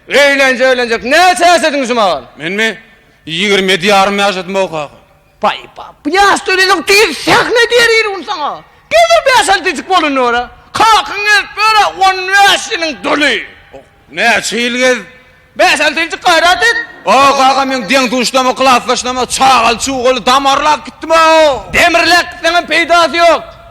Öýlenje öýlenjek näçe ýaşadyň şu magal? Menmi? Ýigrimi ýedi ýarym ýaşadym o kaka. Baý-ba, bu ýaşda öýlenjek diýil sähne diýer ýerim saňa. Gezer bäş alty jik bolanda görä. Kakaň gezip ýöre on bäş ýylyň doly. Näçe ýyl gez. Bäş alty jik gaýrat et. O kaka meň deň duşdama klasdaşnama çagaly çugaly damarlap gitdim-ow. Demirläp gitseňem peýdasy ýok.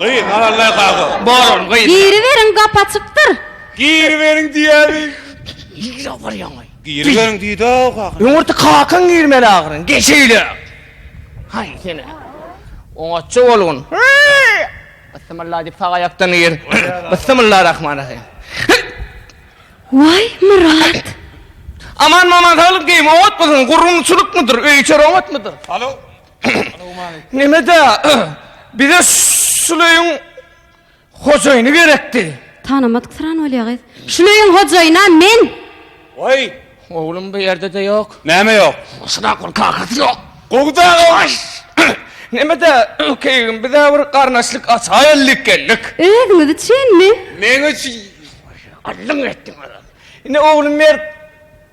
Gyz, Nalaldaý kaga, bolan gyz. Giriberiň gap açykdyr. Giriberiň diýäni. Nirä obarýaňaý? Giriberiň diýdi-ow kaga. Öňürti kakaň girmeli ahyryn, geçeýle. Haý seni. Oňatja bolgun. Byssymylla diýip sag aýakdan gir. Byssymylla rahman rahym. Waý, Myrat. Aman-maman saglyk diýiň, oňatmysyň, gurrunçylykmydyr, öý-içer oňatmydyr? Alo. Neme-dä, bize şul öýüň hojaýyny gerekdi. Tanymadyk syran bolýa gyz. Şul öýüň hojaýyna men. Waý, oglum bu ýerde-de ýok. Näme ýok? Şuna gul kakasy ýok. Gowy-da, gowy. Neme-dä, ökeýim, biz-ä bir garnaşlyk açaýyllyk geldik. Özüňiz üçinmi? Meň üçin. Gyllyň etdiň, Oraz. Ine, oglum, ber.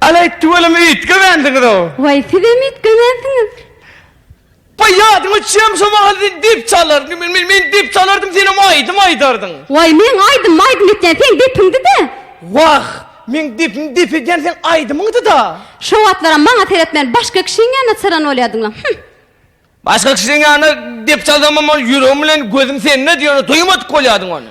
Aleý tüweleme üýtgemänsiňiz-ow. Waý sizem üýtgemänsiňiz. Waý ýadyňa düşýärmi şo mahal sen dep çalardyň men men men dep çalardym senem aýdym aýdardyň. Waý meň aýdym maýdym etýän seň depiňdi-dä. Wah meň depim dep edýän seň aýdymyňdy-da. Şo wagtlaram maňa seretmän başga kişiň ýanyna çyran bolýardyňlam hümm. Başga kişiň ýanyna dep çalsamam ol ýüregim bilen gözüm sende diýeni duýmadyk bolýardyň ony.